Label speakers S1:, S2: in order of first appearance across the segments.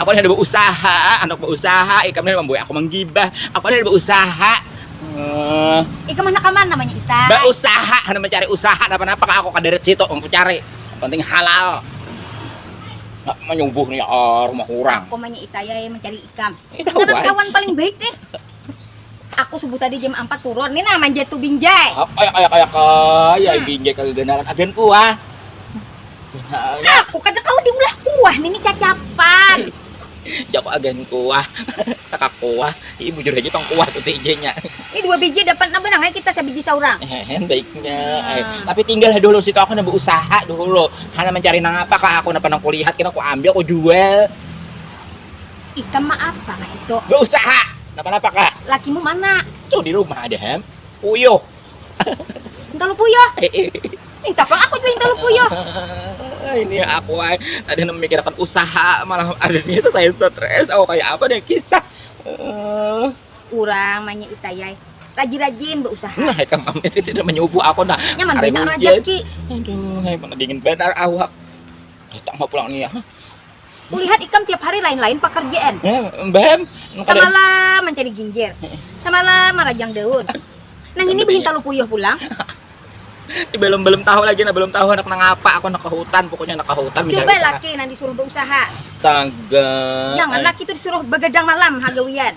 S1: Aku nih ada beusaha, handak beusaha, ikam nih mambuai aku manggibah, aku nih ada beusaha. Uh, ikam handak kaman namanya ita? Beusaha, handak mencari usaha napa-napa kah aku kadarat situ, aku cari. Penting halal. Nak menyubuh nih ah, rumah orang. Aku manya ita ya mencari ikam. Ita kawan paling baik deh. Aku subuh tadi jam ampat turun, ni nah manjat tu binjai. Apa ya kaya kaya kaya hmm. binjai kaganalan agen kuah. Aku kada kau diulah kuah nini cacapan. Jago agen kuah, takak kuah, ini bujur aja tong kuah tuh nya. Ini dua biji dapat napa nang kita sebiji seorang. Hehe, baiknya. Hmm. Tapi tinggal dulu situ aku nambah usaha dulu. Hana mencari nang apa kak aku napa nang kulihat kena aku ambil aku jual. Ikam ma apa ka situ? Beusaha. Napa-napa kah? Lakimu mana? Tuh di rumah ada hem. Puyuh. Hintalu puyuh. Minta pang aku jua hintalu puyuh. Ini aku ay, tadi memikirkan usaha malah ada nih saya stres. Oh kayak apa deh kisah. Uh. Urang manya itayai rajin-rajin berusaha. Nah, ikam am itu tidak menyubuh aku nah. Nyaman benar rezeki. Aduh, hai mana dingin benar awak. Datang mau pulang nih ya. Ulihat ikam tiap hari lain-lain pakarjaan. Bam, samalam mancari ginjir, samalam marajang daun. Nang ini behintalu puyuh pulang. belum belum tahu lagi nah belum tahu anak nang apa aku anak ke hutan pokoknya anak ke hutan coba laki nang disuruh berusaha astaga jangan laki itu disuruh begadang malam hagawian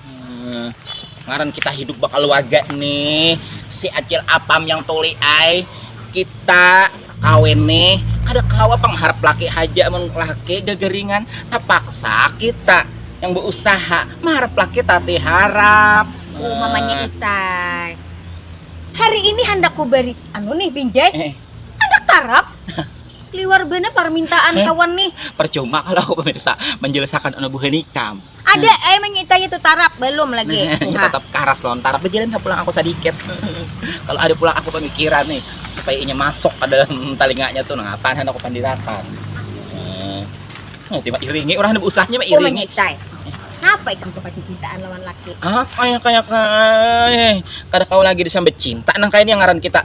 S1: Hmm, ngaran kita hidup bakaluarga nih si acil apam yang tuli ai kita kawin nih ada kawa pengharap laki haja mun laki gagaringan terpaksa kita yang berusaha mengharap laki tati harap oh mamanya itai hari ini handak ku beri anu nih binjai eh. handak tarap Liwar bana parmintaan eh, kawan nih. Percuma kalau aku pemirsa menjelaskan anu buhan ikam. Ada hmm. eh menyitanya tuh tarap belum lagi. Nah, tetap karas lontar. Berjalan ke pulang aku sedikit. kalau ada pulang aku pemikiran nih supaya inya masuk ke dalam telinganya tuh nah apa aku pandirakan. Eh, oh, tiba iringi orang ada usahnya mah iringi. Kenapa ikam tuh cintaan lawan laki? Apa ya kayak kayak kada kau lagi disambut cinta nang kayak yang ngaran kita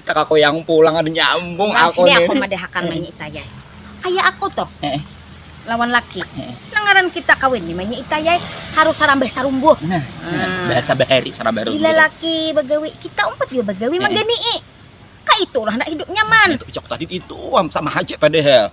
S1: Takakuyang pulang kada nyambung Nah aku sini aku nih. madahakan Manyi Ita Yai. Kaya aku tuh Heeh. lawan laki. Heeh. Nang ngaran kita kawin ni Manyi Ita Yai harus sarambah sarumbuh. Nah, Nah. bahasa bahari sarambah Bila rumbuh. laki bagawi, kita umpat jua bagawi Heeh. manggani'i. Kaitu ulah handak hidup nyaman. Nah itu picak tadi itu am sama haja padahal.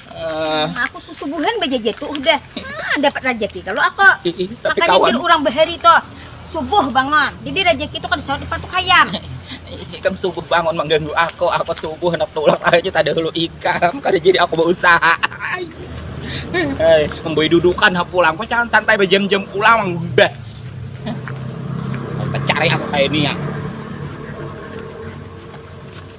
S1: Uh, aku susubuhan bajajar tuh udah nah, dapat rezeki kalau aku makanya kawan. orang bahari tuh subuh bangun jadi rezeki itu kan sahur dipatuk ayam ikam subuh bangun mengganggu aku aku subuh nak tulak aja tak ada dulu ikam karena jadi aku berusaha Hei, membuat dudukan aku pulang kok jangan santai berjam-jam pulang udah cari aku kayak ini ya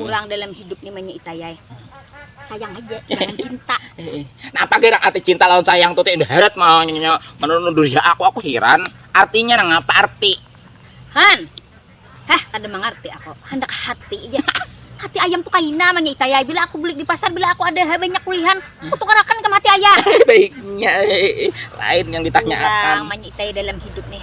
S1: kurang dalam hidup ni manya itayai sayang aja jangan cinta nah apa kira arti cinta lawan sayang tuh tidak heret mau nyonya menurut ya aku aku heran artinya nang apa arti han heh kada mengerti aku hendak hati aja hati ayam tuh kaina manya itayai bila aku beli di pasar bila aku ada banyak kulihan aku tukarakan ke mati ayam baiknya lain yang ditanyakan manya itayai dalam hidup nih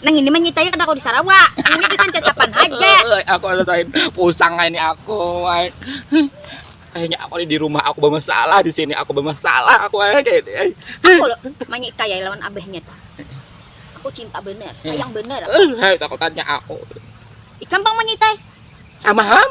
S1: Nang ini manyitai kada kau di Sarawak. Ini gasan cacapan haja. aku rasain pusang ini aku. Ay. Kayaknya aku di rumah aku bermasalah di sini aku bermasalah aku ay. Kayak ini. Ay. Aku loh manyitai lawan abahnya tuh. Aku cinta bener, sayang bener. Aku. Eh, takut tanya aku. Ikam bang manyitai. Sama ham.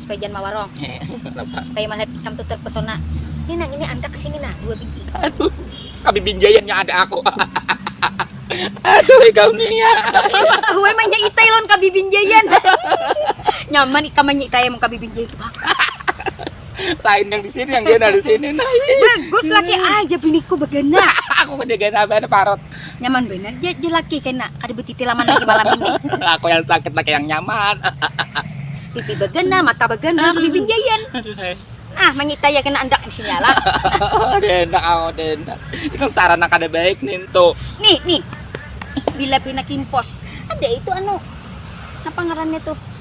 S1: supaya jangan mawarong supaya malihat ikam tu terpesona ni nang ini andak kesini nah dua biji aduh kabibinjaian nya ada aku aduh ikam ni ya tahu ai manyitai lawan kabibinjaian nyaman ikam manyitai amun kabibinjaian tu pang lain yang disini yang gena disini nah bagus laki ai jar biniku begana aku kena gena banar parut Nyaman benar ja jelaki kena kada betipi laman lagi malam ini. Aku yang sakit pakai yang nyaman. Pipi bagana, mata bagana, bibin jayan. Ah, manyita ya kena andak disini ala. Denda aku denda. Ikam sarana kada baik nintu. Nih, nih. Bila pina kimpos. Ada itu anu. Napa ngarannya tuh?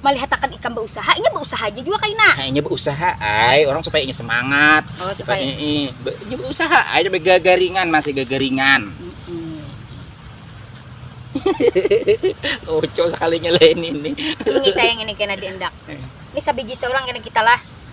S1: malihatakan ikam bausaha inya bausaha aja jua kaina nah inya bausaha ai orang supaya inya semangat oh, supaya ini inya bausaha ai coba gagaringan masih gagaringan Oco sekalinya lain ini. Ini kayak ini kena diendak. Ini sabiji seorang kena kita lah.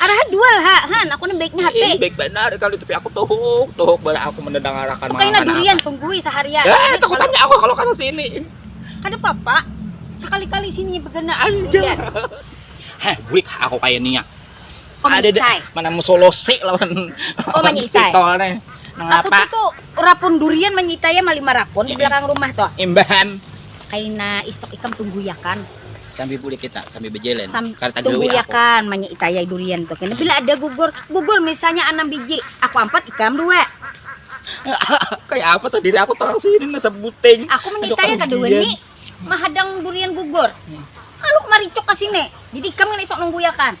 S1: Araha dual ha, han aku nih baiknya hati. Ini baik benar kali tapi aku tuhuk, tuhuk bala aku mendedangarakan Tuh kaina durian tunggui seharian. Eh, takutannya aku kalau kata sini. Kada papa, sekali-kali sini begana durian. Heh, bulik aku kayak niya. Oh, ada deh mana musolose lawan oh manyitai pitolnya mengapa aku tuh rapun durian manyitai ya, mali marakun di belakang rumah tuh imbahan kaina isok ikam tunggu ya kan sambil bulik kita sambil berjalan Sam, tunggu ya kan manya itayai durian tuh kan bila ada gugur gugur misalnya enam biji aku empat ikam dua kayak apa tuh diri aku tahu sih ini sebuting aku menyitanya tadi ini mahadang durian gugur hmm. kalau kemari cok ke sini jadi ikam kan esok nunggu ya kan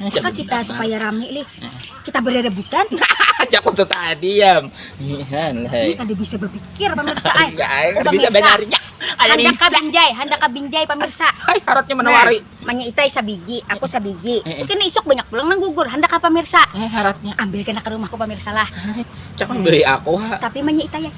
S1: Maka kita supaya rame lih. Kita beradabutan. Aja kau tetap diam. Ini kada bisa berpikir pemirsa. Ay. Enggak, ay. Kada bisa benarnya. Handak kabinjai, handak kabinjai pemirsa. Ay, haratnya menawari. Nah, manya itai sabiji, aku sabiji. Eh, eh. Kena isuk banyak pulang nang gugur. Handak apa pemirsa? Eh, haratnya. Ambil kena ke rumahku pemirsa lah. Cakap beri aku. Tapi manya itai